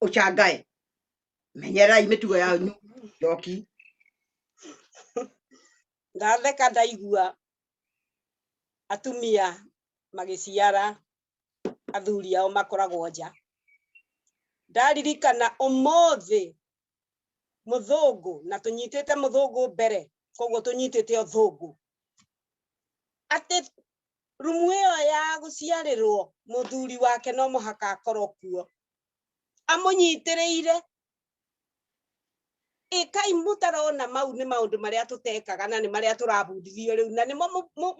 ucangae menyererai mitugo ya njoki ndatheka ndaigua atumia magiciara athuri ao makoragwo nja ndaririkana umuthi muthungu na tunyitite muthungu mbere koguo tunyitite uthungu ati rumu iyo ya guciarirwo muthuri wake no muhaka akorwo kuo amũnyitĩrĩire ĩkai mũtarona mau nĩ maũndũ marĩa tũtekaga na nĩ marĩa tũrabundithio rĩu na nĩmo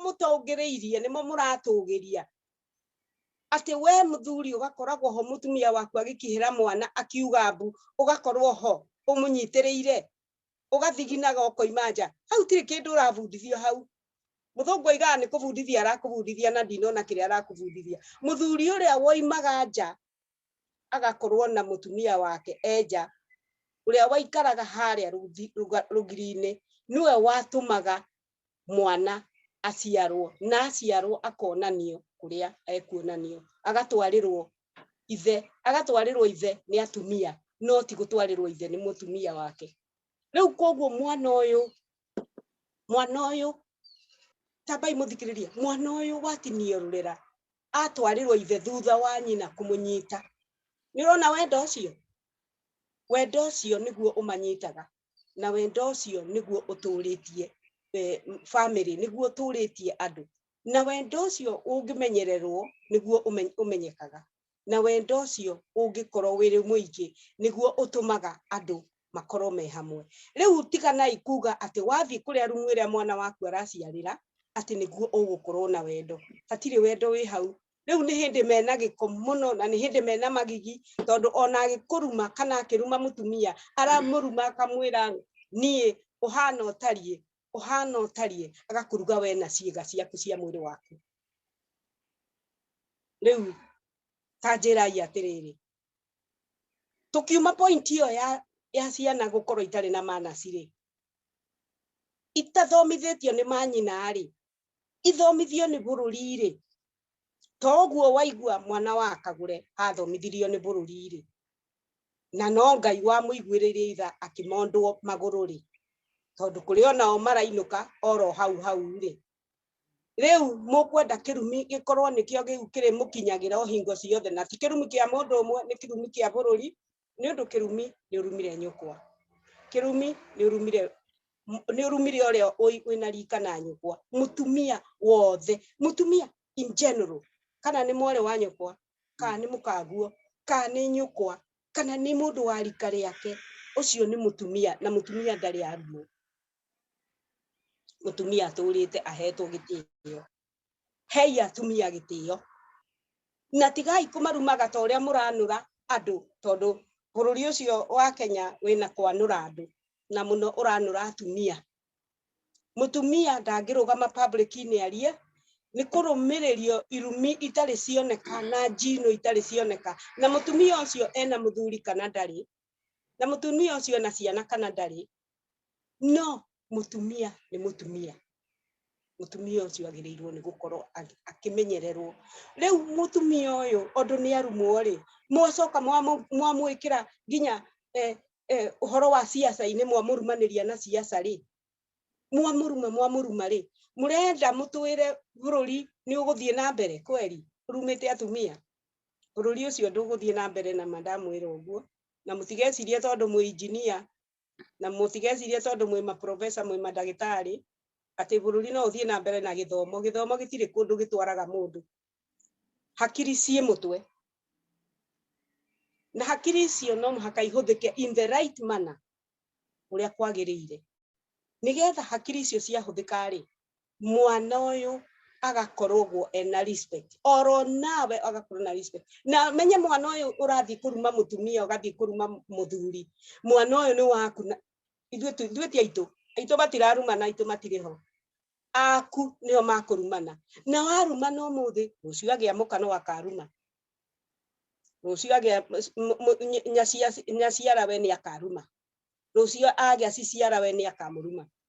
mũtongĩrĩirie nĩmo mũratũgĩria atĩ we mũthuri ũgakoragwo ho mũtumia waku agĩkĩhĩra mwana akiuga mbu ũgakorwo ho ũmũnyitĩrĩire ugathiginaga ukoima nja hau tiri kindu urabundithio hau muthungu aigaga ni kubundithia arakubundithia na ndinona kiria arakubundithia muthuri uria woimaga nja agakorwo na mutumia wake enja uria waikaraga haria rugiri-ini niwe watumaga mwana aciarwo na aciarwo akonanio kuria ekuonanio agatwarirwo ithe agatwarirwo ithe ni atumia no ti gutwarirwo ithe ni mutumia wake riu koguo mwana uyu mwana uyu tambai muthikiririe mwana uyu watinio rurera atwarirwo ithe thutha wa nyina kumunyita ni urona wendo ucio wendo ucio niguo umanyitaga na wendo ũcio nĩguo ũtũrĩtie family nĩguo ũtũrĩtie andũ na wendo ũcio ũngĩmenyererwo nĩguo ũmenyekaga na wendo ũcio ũngĩkorwo wĩrĩ mũingĩ nĩguo ũtũmaga andũ makorwo me hamwe rĩu tiganai kuga atĩ wathiĩ kũrĩa rumu ĩrĩa mwana waku araciarĩra atĩ nĩguo ũgũkorwo na wendo hatirĩ wendo wĩ hau rĩu nĩ hĩndĩ mena gĩko mũno na nĩ hĩndĩ mena magigi tondũ ona agĩkũruma kana akĩruma mũtumia aramũruma akamwĩra niĩ ũhana ũtariĩ ũhana ũtariĩ agakũruga we na ciĩga ciaku cia mwĩrĩ waku rĩu tanjĩrai atĩrĩrĩ tukiuma point iyo ya ya ciana gukorwo itari na manacirĩ itathomithĩtio nĩ manyina rĩ ithomithio nĩ bũrũri-rĩ, to ũguo waigua mwana wa kagũre athomithirio nĩ bũrũri-rĩ, na no Ngai wamũiguĩrĩire itha akĩmondwo magũrũ-rĩ, tondũ kũrĩ onao marainũka oro hau hau-rĩ, rĩu mũkwenda kĩrumi gĩkorwo nĩkĩo kĩu kĩrĩmũkinyagĩra o hingo ciothe, na ti kĩrumi kĩa mũndũ ũmwe, nĩ kĩrumi kĩa bũrũri, nĩ ũndũ kĩrumi nĩ ũrumire nyũkwa kĩrumi nĩ ũrumire nĩ ũrumire ũrĩa wĩna rika na nyũkwa mũtumia wothe mũtumia in general kana nĩ mwarĩ wa nyũkwa kana nĩ mũkaguo kana nĩ nyũkwa kana nĩ mũndũ wa rika rĩake ũcio nĩ mũtumia na mũtumia ndarĩ aruo mũtumia atũrĩte ahetwo gĩtĩo hei atumia gĩtĩo na tigai kũmarumaga ta ũrĩa mũranũra andũ tondũ bũrũri ũcio wa Kenya wĩna kwanũra andũ na mũno ũranũra atumia mutumia ndangĩrũgama public inĩ arie nĩ kũrũmĩrĩrio irumi itarĩ cioneka na njino itarĩ cioneka na mutumia ũcio ena muthuri kana ndarĩ na mutumia ucio na ciana kana ndari no mutumia ni mutumia mutumia ucio agirirwo ni gukorwo akimenyererwo riu mutumia uyu ondu ni arumwo ri mwacoka mwamwikira nginya eh, eh, uhoro wa siasa ini mwamurumaniria na siasa ri mwamuruma mwamuruma ri murenda mutwire bururi ni uguthie na mbere kweri rumite atumia bũrũri ũcio ndũgũthiĩ na mbere na ma ndamwĩra ũguo na mũtigecirie tondũ mwĩ injinia na mũtigecirie tondũ mwĩ maprofesa mwĩ mandagĩtarĩ atĩ bũrũri no ũthiĩ na mbere na gĩthomo gĩthomo gĩtirĩ kũndũ gĩtwaraga mũndũ hakiri ciĩ mũtwe na hakiri icio no mũhaka ihũthĩke in the right manner ũrĩa kwagĩrĩire nĩgetha hakiri icio ciahũthĩka rĩ mwana uyu agakorogwo ena respect oro nawe agakorwo na respect na menye mwana uyu urathi kuruma mutumia ugathi kuruma muthuri mwana uyu ni waku na ithuĩ tu- ithuĩ ti aitũ aitũ matirarumana aitũ matirĩ ho aku nĩo makũrumana na warumana ũmũthĩ rũciũ agĩa mũka no akaruma rũciũ agĩa m- m- ny- nyacia- nyaciara we nĩ akaruma rũciũ agĩa ciciara we nĩ akamũruma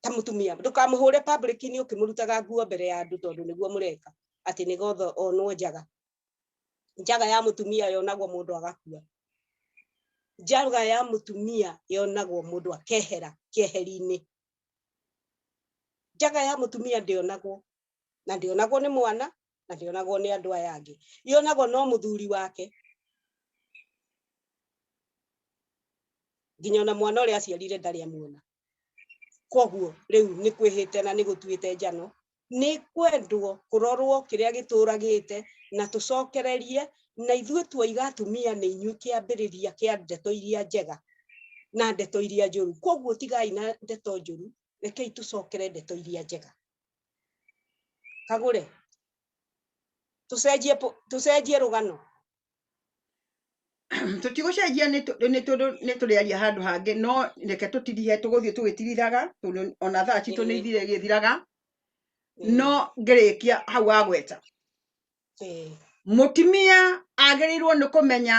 ta mutumia ndukamuhure public ni ukimurutaga nguo mbere ya andu tondu niguo mureka ati ni gotho onwo njaga njaga ya mutumia yonagwo mundu agakua njaga ya mutumia yonagwo mundu akehera kieherinĩ njaga ya mutumia ndionagwo na ndionagwo ni mwana na ndionagwo nĩ andũ aya angĩ ionagwo no mũthuri wake nginya ona mwana ũrĩa aciarire ndarĩ amuona koguo rĩu nĩ kwĩhĩte na nĩ gũtuĩte njano nĩ kwendwo kũrorwo kĩrĩa gĩtũragĩte na tũcokererie na ithuĩ tuoiga atumia nĩ inyuĩ kĩambĩrĩria kĩa ndeto iria njega na ndeto iria njũru koguo tigai na ndeto njũru rekei tũcokere ndeto iria njega kagure tucenjie po- tucenjie rugano tũtigũcenjia nĩ tũ- nĩ tũndũ nĩ tũrĩaria handũ hangĩ no reke tũtirihe tũgũthiĩ tũgĩtirithaga tondũ ona thaa citũ nĩ Ĩĩ. ithire gĩthiraga Ĩĩ, no ngĩrĩkia hau wa gweta ĩĩ, mũtumia agĩrĩirwo nĩ kũmenya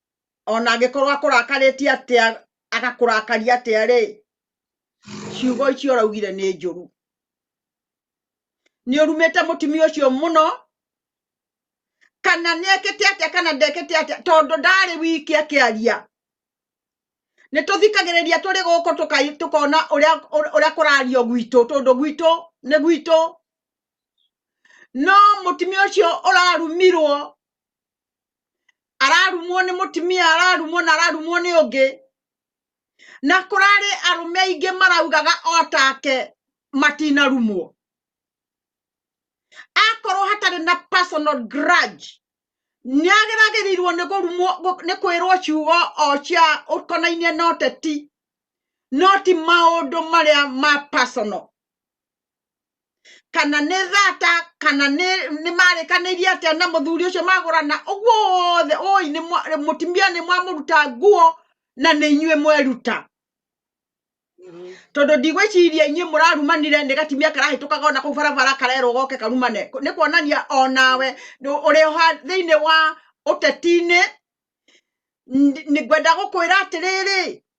ona angĩkorwo akũrakarĩtie atĩa agakũrakaria atĩa rĩ ciugo icio ũraugire nĩ njũru nĩ ũrumĩte mũtumia ũcio mũno kana nĩekĩte atĩa kana ndekĩte atĩa tondũ ndarĩ wiki akĩaria nĩ tũthikagĩrĩria tũrĩ gũkũ tũkai- tũkona ũrĩa ũrĩa- ũrĩa kũrario gwitũ tondũ gwitũ nĩ gwitũ no mũtumia ũcio ũrarumirwo ararumwo nĩ mũtumia ararumwo na ararumwo nĩ ũngĩ na kũrarĩ arũme aingĩ maraugaga o take matinarumwo akorwo hatarĩ na personal grudge nĩ ageragĩrirwo nĩ kũrumwo gũ- nĩ kwĩrwo ciugo o cia ũkonainie na ũteti no ti maũndũ marĩa ma personal kana nĩ thata kana nĩ nĩ marĩkanĩirie atĩa na mũthuri ũcio magũrana ũguo wothe ũĩ nĩ mwa- mũtumia nĩ mwamũruta nguo na nĩ inyuĩ mweruta tondũ ndigwĩciria inyuĩ mũrarumanire nĩ gatimia karahĩtũkaga ona kũu barabara karerwo goke karumane Kũ- nĩ kuonania onawe nĩ- ũrĩ oha thĩinĩ wa ũteti-inĩ Ndi- nĩ ngwenda gũkwĩra atĩrĩrĩ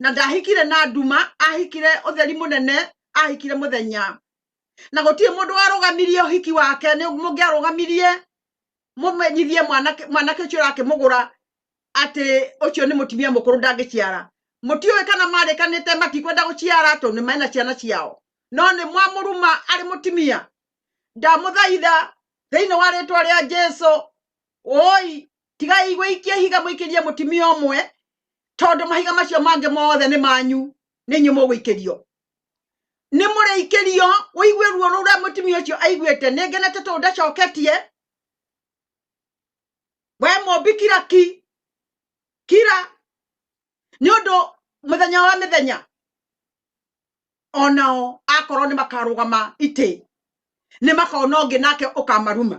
na ndahikire na nduma ahikire utheri munene ahikire muthenya na gũtirĩ mũndũ warũgamirie ũhiki wake nĩ mũngĩarũgamirie mũmenyithie mwanake mwanake ũcio ũrakĩmũgũra atĩ ũcio nĩ mũtumia mũkũrũ ndangĩciara mũtiũĩ kana marĩkanĩte matikwenda gũciara tondũ nĩ mena ciana ciao no nĩ mwamũruma arĩ mũtumia ndamũthaitha thĩinĩ wa rĩtwa rĩa jesu woi tigai gwĩikia ihiga mũikĩrie mũtimia ũmwe tondũ mahiga macio mangĩ mothe nĩ manyu nĩ inyuĩ mũgũikĩrio nĩ mũrĩikĩrio ũigue ruo rũrĩa mũtimia ũcio aiguĩte nĩ ngenete tondũ ndacoketie we mũmbi kira ki kira nĩ ũndũ mũthenya wa mĩthenya onao akorwo nĩ makarũgama itĩ nĩ makona ũngĩ nake ũkamaruma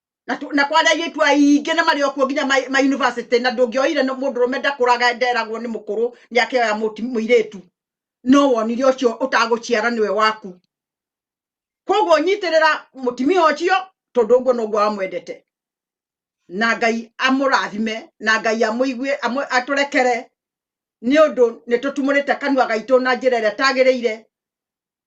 na tu- na kwari airitu aingi na mari okuo nginya ma ma university na ndungioire no mundu rume ndakuraga nderagwo ni mukuru ni akioya muti muiritu no wonire ucio utaguciara niwe waku koguo nyitirira mutimia ucio tondu uguo noguo amwendete na ngai amurathime na ngai amuigue amu- aturekere ni undu nitutumurite kanua gaitu na njira iria tagirire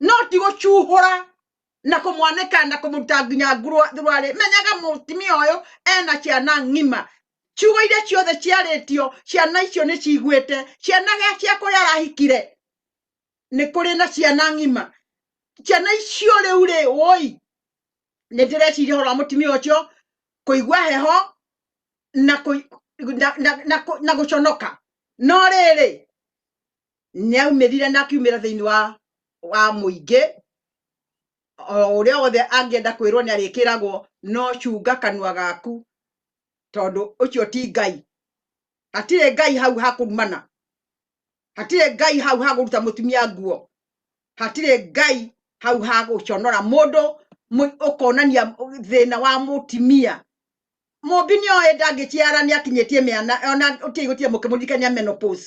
no ti gucuhura na kumwaneka na kumuruta nginya ngurwari menyaga mutumia uyu ena ciana ng'ima ciugo iria ciothe ciarĩtio ciana icio nĩ ciguĩte ciana gĩa cia kũrĩa arahikire nĩ kũrĩ na ciana ng'ima ciana icio rĩu rĩ woi nĩ ndĩreciria horo wa mũtumia ũcio kũigua heho na kũi- na- na- na kũ- na gũconoka no rĩrĩ nĩaumirire na akiumĩra thĩinĩ wa wa mũingĩ o ũrĩa wothe angĩenda kwĩrwo nĩ arĩkĩragwo no cunga kanua gaku tondũ ũcio ti ngai hatirĩ ngai hau hakurumana hatirĩ ngai hau hagũruta mũtumia nguo hatirĩ ngai hau hagũconora mũndũ mũ- ũkonania thĩna wa mũtumia mũmbi nĩ oĩ ndangĩciara nĩ akinyĩtie mĩana ona ũtiĩ gũtirĩ mũkĩmũririkania menopause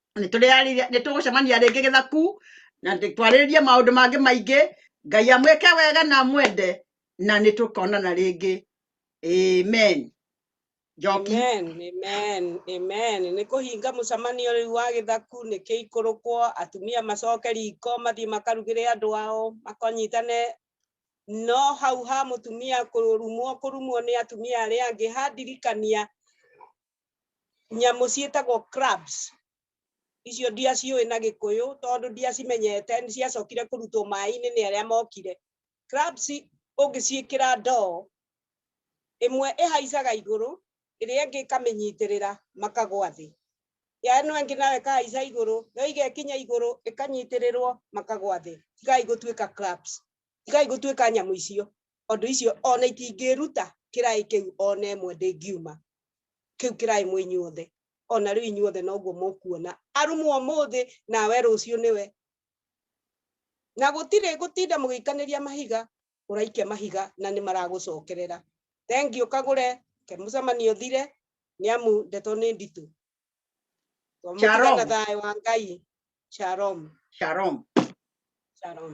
nä tå gå cemania rä ngä gä thaku na twarä rä rie maå ndå mangä maingä ngai amwä ke wega na mwende na nä tå konana rä ngä amen njoki Amen, amen, amen. Nĩ kũhinga mũcemanio rĩu wa gĩthaku nĩ kĩikũrũkwo atumia macoke riko mathiĩ makarugĩre andũ ao makonyitane no hau ha mũtumia kũrumwo kũrumwo nĩ atumia arĩa angĩ handirikania nyamũ ciĩtagwo crabs icio ndiaciũĩ na gĩkũyũ tondũ ndiacimenyete nĩ ciacokire kũrutwo maĩ-inĩ nĩ arĩa mokire crabs ũngĩciĩkĩra ndoo ĩmwe ĩhaicaga igũrũ ĩrĩa ĩngĩ ĩkamĩnyitĩrĩra makagwa thĩ ya ĩno ĩngĩ nayo ĩkahaica igũrũ yo igekinya igũrũ ĩkanyitĩrĩrwo makagwa thĩ tigai gũtuĩka crabs tigai gũtuĩka nyamũ icio ũndũ icio ona itingĩruta kĩraĩ kĩu ona ĩmwe ndĩngiuma kiu kirai mwi inyuothe ona riu inyuothe noguo mukuona arumwo muthi nawe ruciu niwe na gutire gutinda mugikaniria mahiga uraikia mahiga na ni maragucokerera thengi ukagure ke mucemanio thire ni amu ndeto ni nditu Shalom. na thayo wa ngai shalom Shalom. shalom